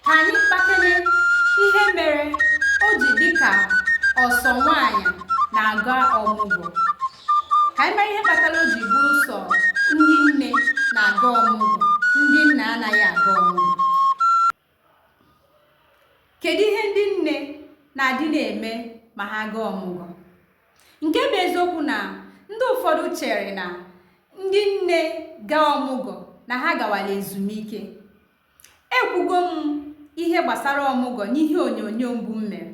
Ka anyị kpakele ihe mere o ji dị ka ọ sọ nwaanyị na-aga ọmụgwọ. Ka anyị mara ihe kpatara o ji bụrụ sọ ndị nne na-aga ọmụgwọ, ndị nna anaghị aga ọmụgwọ. Kedu ihe ndị nne na-adị na-eme ma ha gaa ọmụgwọ? Nke bụ eziokwu na ndị ụfọdụ chere na ndị nne gaa ọmụgwọ na ha gawala ezumike. ekwugo m ihe gbasara ọmụgwọ n'ihe onyonyo mbụ m mere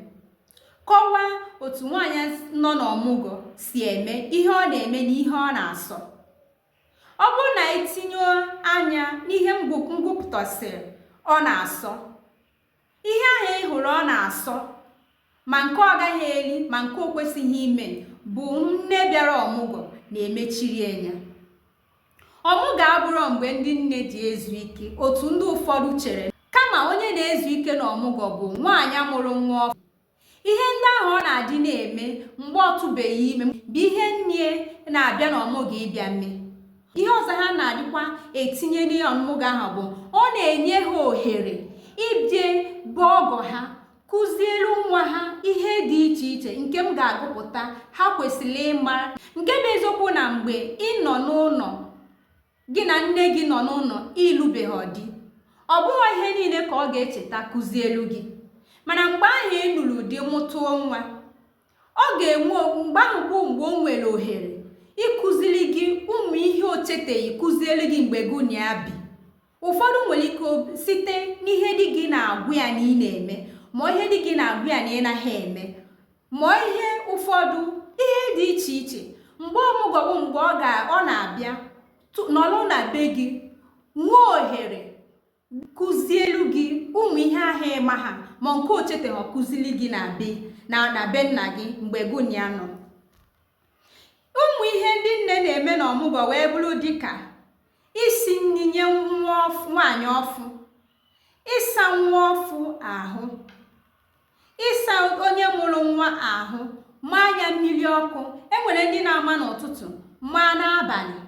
kọwaa otu nwaanyị nọ n'ọmụgwọ si eme ihe ọ na-eme na ihe ọ na-asọ ọ bụrụ na i tinye anya n'ihe m gụpụtasịrị ọ na-asọ ihe ahụ ị hụrụ ọ na-asọ ma nke ọ gaghị eri ma nke o kwesịghị ime bụ nne bịara ọmụgwọ na-emechiri anya ọmụgwọ abụrọ mgbe ndị nne ji ezu ike otu ndị ụfọdụ chere kama onye na-ezu ike na ọmụgwọ bụ nwaanyị mụrụ nwa ọfụ ihe ndị ahụ ọ na-adị na-eme mgbe ọ tụbeghị ime bụ ihe nne na-abịa na ọmụgwọ ịbịa mee ihe ọzọ ha na-adịkwa etinye n'ọmụgwọ ahụ bụ ọ na-enye ha ohere ịbịa be ọgọ ha kụzielu nwa ha ihe dị iche iche nke m ga-agụpụta ha kwesịrị ịma nke bụ eziokwu na mgbe ị nọ n'ụlọ gị na nne gị nọ n'ụlọ ị lụbeghị di ọ bụghị ihe niile ka ọ ga-echeta kụzielu gị mana mgbe ahụ ị nụrụ di mụtụọ nwa ọ ga-enwe mgbe ahụ bụ mgbe o nwere ohere ịkụziri gị ụmụ ihe o cheteghị kụzielu gị mgbe gị na ya bi ụfọdụ nwere ike site n'ihe di gị na-agwa ya na ị na-eme ma ihe di gị na-agwa ya na ị naghị eme Ma ọ ihe ụfọdụ ihe dị iche iche mgbe ọmụgwọ bụ mgbe ọ ga ọ na-abịa tụ- nọrọ na be gị nwee ohere kụzielu gị ụmụ ihe ahụ ị maha ma nke o cheteghị kụzili gị na be na na be nna gị mgbe gị na ya nọ ụmụ ihe ndị nne na-eme na ọmụgwọ wee bụrụ dịka isi nri nye nwa ọf- nwaanyị ọfụ ịsa nwa ọfụ ahụ ịsa onye mụrụ nwa ahụ maa ya mmiri ọkụ enwere ndị na-ama n'ụtụtụ maa n'abalị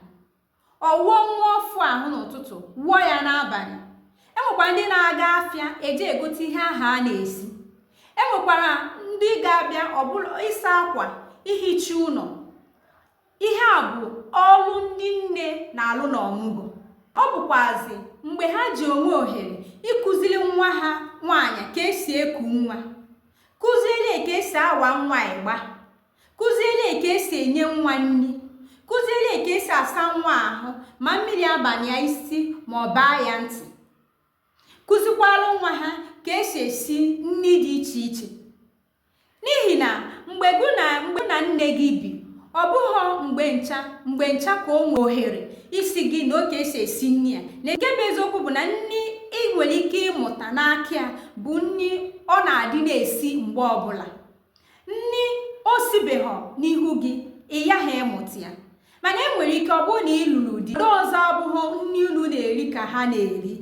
ọ wụọ nwa ọfụ ahụ n'ụtụtụ wụọ ya n'abalị enwekwara ndị na-aga afịa eje egote ihe ahụ a na-esi enwekwara ndị ga-abịa ọ bụlụ ịsa akwa ihicha ụlọ Ihe a bụ ọrụ ndị nne na-alụ n'ọmụgwọ. Ọ bụkwazi mgbe ha ji enwe ohere ịkụziri nwa ha nwaanyị ka esi eku nwa, kụziere ka esi awa nwa ịgba, kụziere ka esi enye nwa nri, kụziere ka esi asa nwa ahụ ma mmiri abanye ya isi ma ọ baa ya ntị kụzikwara nwa ha ka esi esi nri dị iche iche N'ihi na mgbe gị na nne gị bi, ọ bụghọ mgbe ncha mgbe ncha ka o nwe ohere ịsị gị nee ka esi esi nri a. Na nke bụ eziokwu bụ na nri ị nwere ike ịmụta n'aka ya bụ nri ọ na-adị na-esi mgbe ọbụla. Nri o sibeghọ n'ihu gị, ị yaghị ịmụta ya. Mana e nwere ike ọ bụrụ na ị lụrụ di, ndị ọzọ ọ bụghọ nri unu na-eri ka ha na-eri.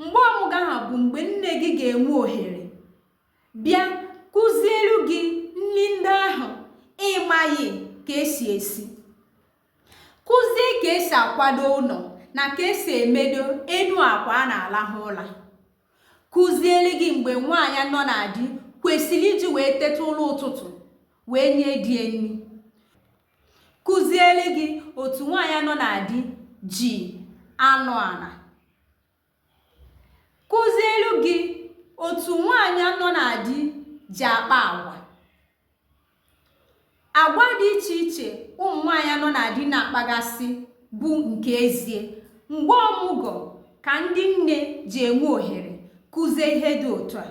Mgbe ọmụgwọ ahụ bụ mgbe nne gị ga-enwe ohere bịa kụzielu gị nri ndị ahụ ị maghị ka esi esi kụzie ka esi akwado ụlọ na ka esi emedo enu akwa a na-alahụ ụla kụzielu gị mgbe nwaanyị nọ na di kwesịrị iji wee teta ụla ụtụtụ wee nye di ya nri kụzielu gị otu nwaanyị nọ na di ji anọ ala kụzielu gị otu nwaanyị nọ na di ji akpa agwa agwa dị iche iche ụmụ nwaanyị nọ na di na-akpagasị bụ nke ezie mgbe ọmụgọ ka ndị nne ji enwe ohere kụzie ihe dị otu a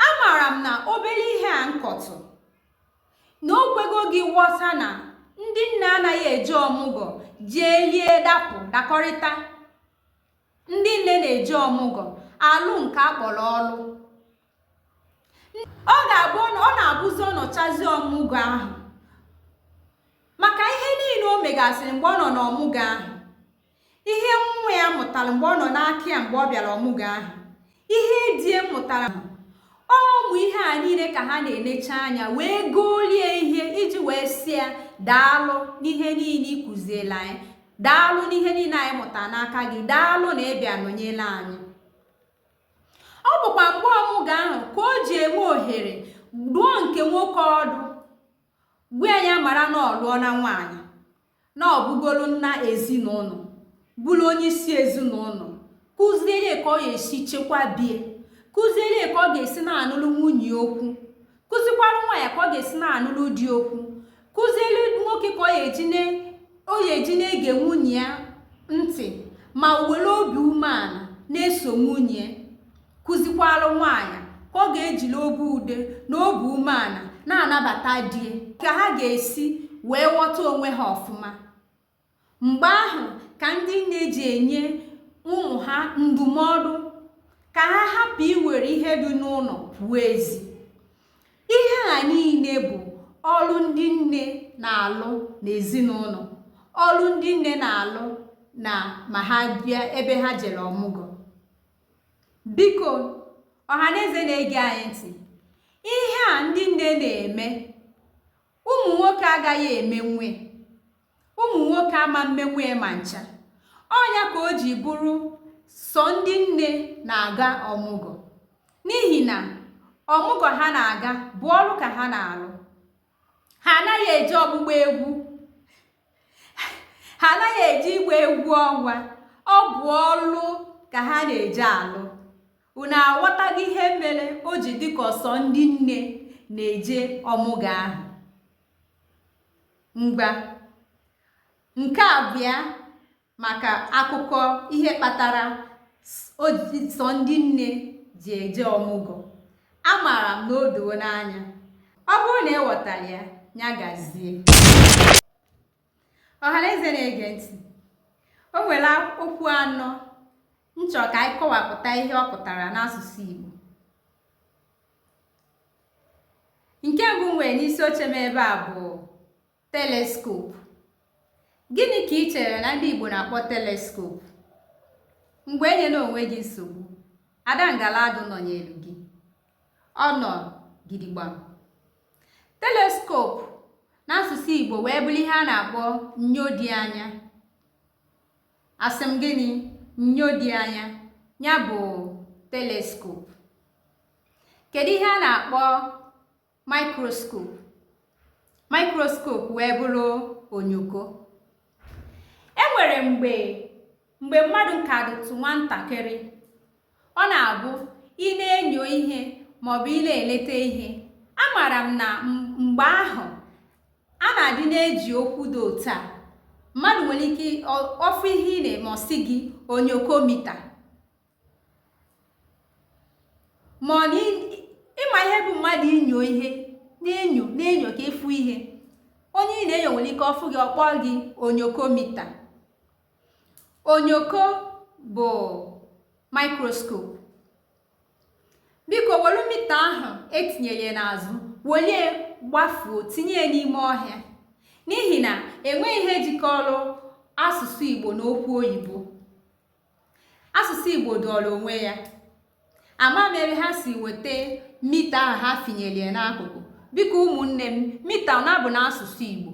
amaara m na obere ihe a m kọtụ na o kwego gị ghọta na ndị nne anaghị eje ọmụgọ jee lie dapụ dakọrịta ndị nne na-eje ọmụgọ alụ nke akpọrọ ọlụ ọ ga-abụ ọ na-abụzi ọ nọchazi ọmụgọ ahụ maka ihe niile o megasịrị mgbe ọ nọ n'ọmụgọ ahụ ihe nwa ya mụtara mgbe ọ nọ n'aka ya mgbe ọ bịara ọmụgwọ ahụ ihe di ya mụtara ọ ụmụ ihe a niile ka ha na-enecha anya wee golie ihe iji wee sị ya daalụ n'ihe niile ị kụziela anyị daalụ n'ihe niile anyị mụtara n'aka gị daalụ na ịbịa nọnyela anyị ọ bụkwa mgbe ọmụgwọ ahụ ka o ji enwe ohere duo nke nwoke ọdụ gwa ya mara na ọ lụọna nwaanyị na ọ bụgoro nna ezinụlọ bụrụ onye isi ezinụlọ kụziere ya ka ọ ga-esi chekwa be ya kụziere ya ka ọ ga-esi na-anụrụ nwunye okwu kụzikwara nwa ya ka ọ ga-esi na-anụrụ di okwu kụziere nwoke ka ọ ga-eji na-ege nwunye ya ntị ma were obi umeala na-eso nwunye kụzikwara nwaanyị ka ọ ga-ejiri obi ude na obi umeala na-anabata di ka ha ga-esi wee ghọta onwe ha ọfụma mgbe ahụ ka ndị nne ji enye ụmụ ha ndụmọdụ ka ha hapụ iwere ihe dị n'ụlọ pụọ ezi ihe a niile bụ ọrụ ndị nne na-alụ n'ezinụlọ ọrụ ndị nne na-alụ na ma ha bịa ebe ha jere ọmụgwọ Biko, ọhaneze na-ege anyị ntị, ihe a ndị nne na-eme, ụmụ nwoke agaghị emenwe ụmụ nwoke ama mmenwe ma ncha. Ọ nya ka o ji bụrụ sọ ndị nne na-aga ọmụgwọ n'ihi na ọmụgwọ ha na-aga bụ ọrụ ka ha na-arụ. Ha anaghị eje ọgbụgba egwu. ha anaghị eje ịgba egwu ọnwa ọ bụ ọlụ ka ha na-eje alụ unu aghọtago ihe mere o ji dịka ọ sọ ndị nne na-eje ọmụgwọ ahụ ngwa nke a bụ ya maka akụkọ ihe kpatara sọ ndị nne ji eje ọmụgwọ amaara m na o doo unu anya ọ bụrụ na ị ghọtara ya ya gazie ọhaneze na-ege ntị o nwere okwu anọ m chọrọ ka anyị kọwapụta ihe ọ pụtara n'asụsụ Igbo nke mbụ m nwere n'isi oche m ebe a bụ teleskop gịnị ka i chere na ndị Igbo na-akpọ teleskop ngwa enyela onwe gị nsogbu ada ngala adụ nọnyelụ gị ọ nọ gidigbam teleskop n'asụsụ Igbo wee bụrụ ihe a na-akpọ nyo dị anya asị m gịnị nyo dị anya ya bụ teleskop kedu ihe a na-akpọ microscope microscope wee bụrụ onyoko e nwere mgbe mgbe mmadụ ka dịtụ nwatakịrị ọ na-abụ ị na-enyo ihe maọbụ ị na-eleta ihe amaara m na mgbe ahụ a na-adị na-eji okwu dị otu a mmadụ nwere ike ọ fụ ihe ị na-eme ọ sị gị onyokomita ma ọ na ị ma ihe bụ mmadụ inyo ihe na-enyo na-enyo ka ị fụ ihe onye ị na-enyo nwere ike ọ fụ gị ọ kpọ gị onyokomita onyoko bụ microscope biko welụ mita ahụ e tinyere n'azụ welie gbafuo tinye ya n'ime ọhịa n'ihi na enweghị ihe jikọrọ asụsụ igbo na okwu oyibo asụsụ igbo dụọrọ onwe ya ama m ebe ha si weta mita ahụ ha finyere ya n'akụkụ biko ụmụnne m mita ọ na-abụ n'asụsụ igbo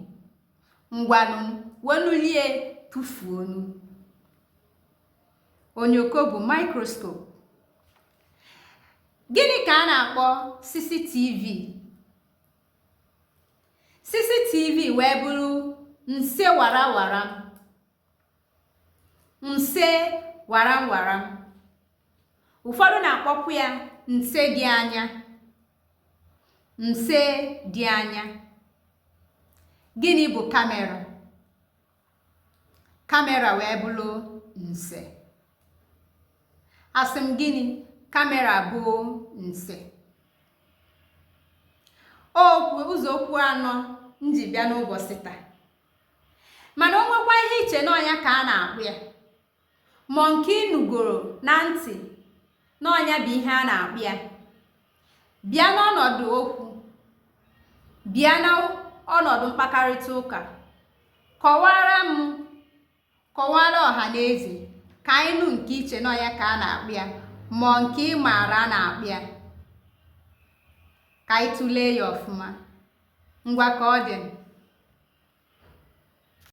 ngwanụ wenulie tụfuonụ onyoko bụ microscope gịnị ka a na-akpọ cctv cctv wee bụrụ nse warawara nse waram waram ụfọdụ na-akpọkwa ya nse dị anya nse dị anya gịnị bụ kamera kamera wee bụrụ nse asị m gịnị kamera bụ nse okwu ụzọ okwu anọ m ji bịa n'ụbọsị taa mana o nwekwa ihe i che na ọ nya ka a na-akpọ ya ma nke ị nụgoro na ntị na ọ nya bụ ihe a na-akpọ ya bịa n'ọnọdụ okwu bịa n'ọnọdụ mkpakarịta ụka kọwaara m kọwaara ọha na eze ka anyị nụ nke i che na ọ ya ka a na-akpọ ya ma nke ị maara a na-akpọ ya ka anyị tụlee ya ọfụma ngwa ka ọ dị